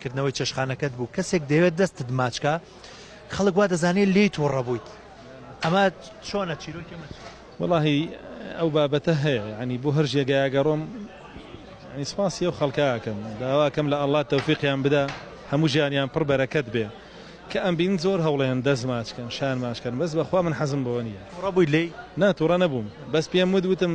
کردنەوەی چێشخانەکەت بوو کەسێک دەوێت دەستت ماچکە خەڵک وا دەزانێت لێی تۆڕە بوویت ئەمە چۆنە چیرۆکی وڵی ئەو بابەتە هەیە ینی بۆ هەر ژێگایگەڕۆم سپاسی ئەو خەڵکەکەم داواکەم لە ئەللا تەوفیقیان بدا هەموو ژیانیان پڕ بەرەکەت بێ کە ئەم بین زۆر هەوڵێن دەست ماچکەن شان ماشکەن بەس بەخوا من حەزم بۆ نیە ڕبووی لی ناتوڕە نەبووم بەس پێم ود وتم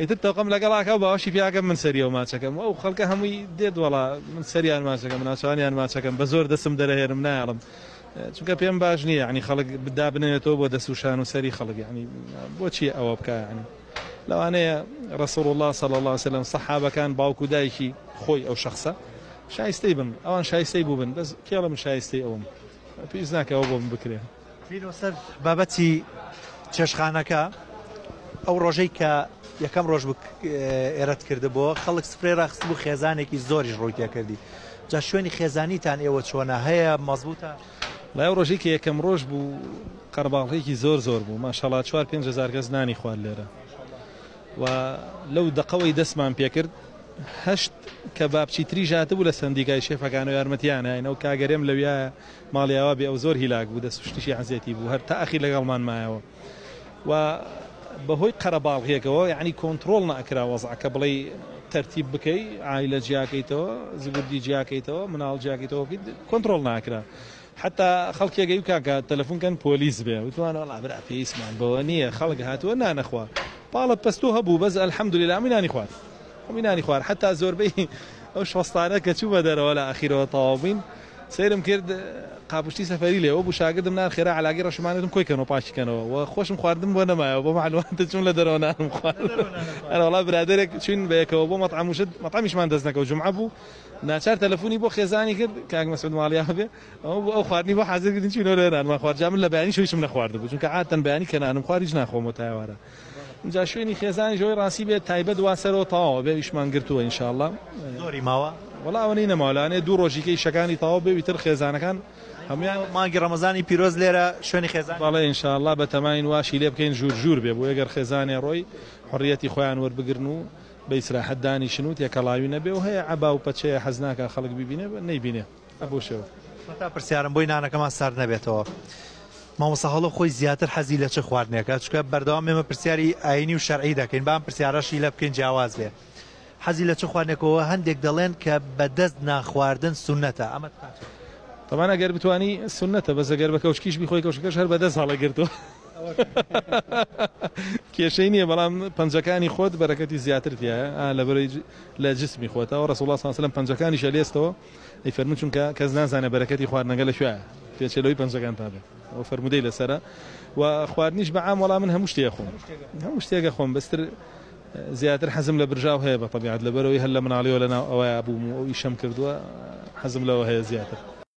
ئیتر تۆقەم لەگەڵ ئاکا و باوەشی پێ ئەکەم من سەریەوە ماچەکەم و ئەو خەڵکە هەمووی دێت وەڵا من سەریان ماچەکەم ناچاوانیان ماچەکەم بە زۆر دەسم دەرەهێنم نایەڵم چونکە پێم باش نییە یانی خەڵک دابنێتەوە بۆ دەست و شان و سەری خەڵک یانی بۆچی ئەوە بکە یانی لەوانەیە ڕسوڵ الله صلی الله وسلم سەحابەکان باوک و دایکی خۆی ئەو شخصە شایستەی بن ئەوان شایستەی بوو بن بەس کێڵم شایستەی ئەوم پێویست ناکەەوە بۆم بکرێن بینۆ سەر بابەتی چێشخانەکە ئەو ڕۆژەی کە یەکەم ڕۆژ ئێرەت کردبووە خەڵک سپرێ ڕاخست بوو خێزانێکی زۆریش ڕووی تێکردی جا شوێنی خێزانیتان ئێوە چۆنە هەیە مەزبووتە لای ڕۆژی کە یەکەم ڕۆژ بوو قەرباڵێکی زۆر زۆر بوو ماشەڵات چوار پێنج هزار کەس نانی خوار لێرە و لەو دقەوەی دەستمان پێکرد هەشت کە بابچی تری ژاتە بوو لە سندیکای شێفەکان و یارمەتیانە ئەو کاگەرێم لەویایە ماڵی ئاوا بێ ئەو زۆر هیلاک بوو دەست و شتیشی عەزێتی بوو هەر تا ئەخیر لەگەڵمان مایەوە و بەهۆی قەرەباڵغیەکەوە یەعنی کۆنتڕۆڵ نەئەکرا وەزعەکە بڵێی تەرتیب بکەی عایلە جیاکەیتەوە زبردی جیاکەیتەوە مناڵ جیاکەیتەوە بکەیت کۆنتڕۆڵ ناکرا حتا خەڵکێگە و کاکە تەلەفونکەن پۆلیس بێ وتوان وڵا برا پێویستمان بەوە نییە خەڵک هاتووە نانەخوا پاڵە پەستۆ هەبوو بەس ئەلحەمدوللا ئەمووی نانی خوارد خۆمی نانی خوارد حەتا زۆربەی ئەو شۆستانە کە چوومە دەرەوە لە ئاخیرەوە تەواو بووین سەیرم کرد قاپشتی سەفەری لێ وەبوو شاگردم نان خێرا عەلاگی ڕەشمانە وتم کۆی کەنەوە پاکی کەنەوە و خۆشم خواردم بۆ نەمایەوە بۆ مەعلوماتت چووم لە دەرەوە نانم خوارد ئەرە وەڵا برادەرێک چووین بەیەکەوە بۆ مەطعەم وشت مەطعەمیشمان دەست نەکەوت جومعە بوو ناچار تەلەفونی بۆ خێزانی کرد کاک مەسعود ماڵیا بێ ئەوە بۆ ئەو خواردنی بۆ حازر کردین چووینەوە لێ نانمان خوارد جا من لە بەیانی شەویشم نەخواردبوو چونکە عادەتەن بەیانی کە نانم خوارد هیچ ناخۆمەوە تا ئێوارە ئینجا شوێنی خێزانیش ئەوەی ڕاستی بێت تایبەت وا سەرەوە تەواوە بێ ئیشمان گرتووە ان شاء اللە زۆری ماوە؟ وەڵا ئەوەنەی نەماوە لەوانەیە دوو ڕۆژی کە ئیشەکانی تەواو بێ و ئیتر خێزانەکان هەموویان مانگی ڕەمەزانی پیرۆز لێرە شوێنی خێزان بەڵێ ان شاء اللە بەتەماین واشی لێ بکەین ژوور ژوور بێ بۆیە گەر خێزانێ ڕۆی حوڕیەتی خۆیان وەربگرن و بە ئیسراحەت دانیشن و تێکەڵاوی نەبێ و هەیە عەبا و پەچەیە حەز ناکا خەڵک بیبینێ نەیبینێ. ئەبوو شێو. سەتا پرسیارم بۆی نانەکەمان سارد نەبێتەوە مامۆستا هەڵۆ خۆی زیاتر حەزی لە چ خواردنێکە چکە بەردەوام ئێمە پرسیاری ئاینی و شەرعی دەکەین بام پرسیارەشی لە بکەین جیاواز بێ حەزی لە چ خوانێکەوە هەندێک دەڵێن کە بەدەست ناخواردن سونەتە ئەمە تەمان ئەگەر بتانی سونەتە بە زەگەر بە کەوچکیش بخۆی کەوشەکەش هەر بەدەست هەڵە گرتووە کێشەی نییە بەڵام پەنجەکانی خۆت بەرەکەتی زیاتر تایە لە بەرەی لە جسمی خۆتەوە ڕسوڵ ساسلم پەنجەکانی شەلێستەوە ئەی فەرموو چونکە کەس نازانێت بەرەکەتی خواردنەکە لەکوێیە پێچەلەوەی پەنجەکانتان بێت ئەو فەرموودەی لەسەرە و خواردنیش بە عام وەڵا من هەموو شتێ خۆم هەموو شتێکە خۆم بەستر زیاتر حەزم لە برژاو هەیە بە طبیعت لەبەرەوەی هەر لە مناڵیەوە لەناو ئەوەیە بووم و ئەو ئیشەم کردووە حەزم لەوە هەیە زیاتر